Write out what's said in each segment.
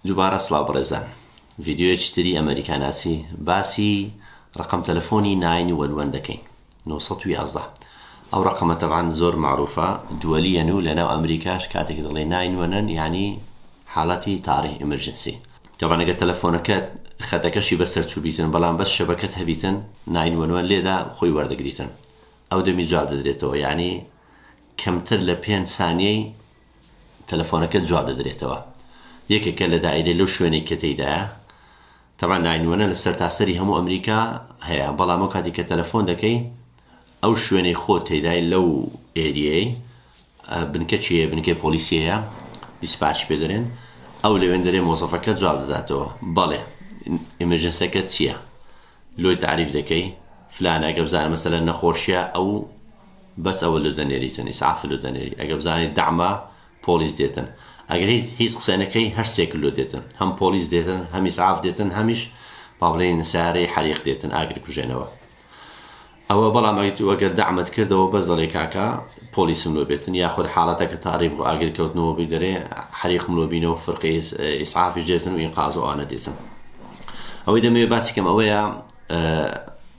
دوبارە سڵاو بەڕێزان ڤیدیۆیەکی تری ئەمەریکا ناسی باسی ڕەقەم تەلەفۆنی ناین وەن وەن دەکەین نۆ سەد و یازدە ئەو ڕەقەمە تەبعەن زۆر مەعروفە دوەلیەن و لەناو ئەمریکاش کاتێک دەڵێ ناین وەنەن یانی حاڵەتی تاڕی ئیمرجنسی تەبعەن ئەگەر تەلەفۆنەکەت خەتەکەشی بەسەر چوبیتن بەڵام بەس شەبەکەت هەبیتن ناین وەن وەن لێدا خۆی وەردەگریتن ئەو دەمی جواب دەدرێتەوە یانی کەمتر لە پێنج سانیەی تەلەفۆنەکەت جواب دەدرێتەوە یەکێکە لە دائیرەی لەو شوێنەی کە تێیدایە تەبان ناینوەنە لە سەرتاسەری هەموو ئەمریکا هەیە بەڵام ئەو کاتی کە تەلەفۆن دەکەی ئەو شوێنەی خۆ تێدای لەو ئێریەی بنکە چیە بنکەی پۆلیسیەیە دیسپاچ پێ دەرێن ئەو لەوێن دەرێ مۆزەفەکە جواب دەداتەوە بەڵێ ئمرجنسەکە چییە لۆی تعریف دەکەی فلانە گەبزانە مەسەلە نەخۆشیە ئەو بەس ئەوە لۆ دەنێریتن ئیسعاف لۆ دەنێری ئەگە بزانی دەعمە پۆڵیس دێتن ئەگە هیچ هیچ قسە نەکەی هەر سێکل لۆ دێتن هەم پۆڵیس دێتن هەم ئیسعاف دێتن هەمیش با بڵێین سارەی حەریق دێتن ئاگر کوژێنەوە ئەوە بەڵام ئەگەر تو ئەگەر دەعمت کردەوە بەس دەڵێ کاکە پۆلیسم لۆ بێتن یاخود حاڵەتە کە تاریب و ئاگر کەوتنەوە بی دەرێ حەریقم لۆ بینەوە فرقی ئیسعافش دێتن و ئینقاز و ئانە دێتن ئەوەی دەمەوێ باسی کەم ئەوەیە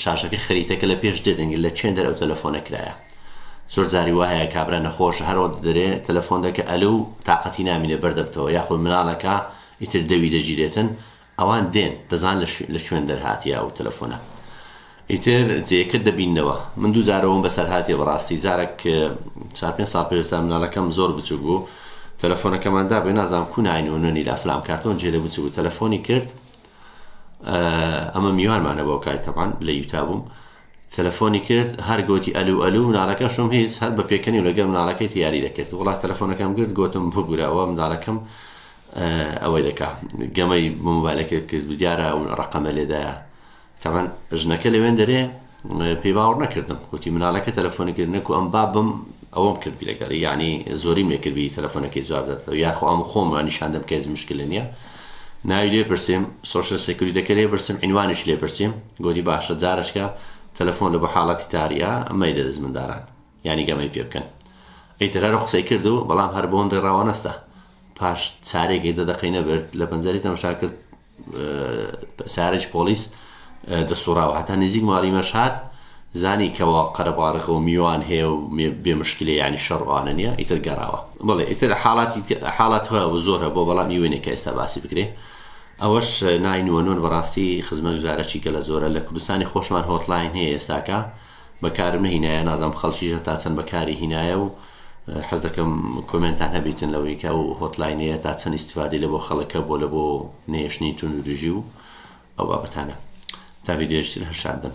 شاشەکە خریتەکە لە پێش دێ دەنگی لە چێندەر ئەو تەلەفۆنە کرایە زۆر جاری وا هەیە کابرا نەخۆش هەر وەخت دەرێ تەلەفۆن دەکە ئەلو و تاقەتی نامینێ بەر دەبتەوە یاخۆی مناڵەکە ئیتر دەوی دەگیرێتن ئەوان دێن دەزان لە شوێن دەرهاتیە ئەو تەلەفۆنە ئیتر جێکە دەبینەوە من دوو جارەوەم بەسەر هااتێ بەڕاستی جارێک چا پێ ساڵ پێستا مناڵەکەم زۆر بچوک بوو تەلەفۆنەکەماندا بێ نازانام کو ناین و نوێنی لافلام کارتۆن جێ لە بچ بوو تەلەفۆنی کرد ئەمە میوانمانە بۆ کای تەمان لە یوتا بووم تەلەفۆنی کرد هەر گوتی ئەلو ئەلو مناڵەکەشم هیچ هەر بە پێکەنی و لەگەر مناڵەکەی یاری دەکرد وڵات تەلەفۆنەکەم گرت گوتم ببوورەوە مناڵەکەم ئەوەی دەکا گەمەی موبایلەکە کرد دیارە ڕقەمە لێدایە تەمان ژنەکە لەوێن دەرێ پێی باوەڕ نەکردم گوتی منالەکە تەلەفۆنی کرد نەکو ئەم بابم ئەوەم کردبی لەگەڵ یعنی زۆری مێکردبی تەلەفۆنەکەی جواب دەدەوە یاخۆ ئەم خۆم نیشاندەم کە هیچ مشکلە نییە ناوی لێ پرسیم سۆشل سەکوریتەکە لێ پرسیم عینوانیش لێ پرسیم گوتی باشە جارشکە تەلەفۆن لە بۆ حاڵەتی تاریا ئەمەی دەدەست منداران یعنی گەمەی پێ بکەن ئەیتر هەر قسەی کرد و بەڵام هەر بۆن ڕێڕاوە نەستا پاش چارێکی دە دەقەی نەبرد لە پەنجەری تەمەشا کرد سارج پۆلیس دەسوڕاوە هەتا نزیک ماری مەشهات زانی کەەوە قەرەبارەخە و میوان هەیە و بێ مشکلی ینی شەڕوانە نیە ئیتر گەڕاوە بڵێ ئیتر حاڵاتی حاڵات هەیە و زۆر هە بۆ بەڵام یوێنێک کە ئێستا باسی بکرێ ئەوەش ناینوەنۆن بەڕاستی خزمە گوزارەی گەلە زۆرە لە کوردستانی خۆشمان هۆتلاین هەیە ئێستاکە بەکارم نەهینایە نازانم خەڵکیش هەتا چەند بەکاری هینایە و حەز دەکەم کۆمێنتان هەبیتن لەوەی کە ئەو هۆتلاینەیە تا چەند ئیسیفادەی لە بۆ خەڵکە بۆ لە بۆ نێشتنی تون و دژی و ئەو بابەتانە تا ویدێشتر هەر شاد بن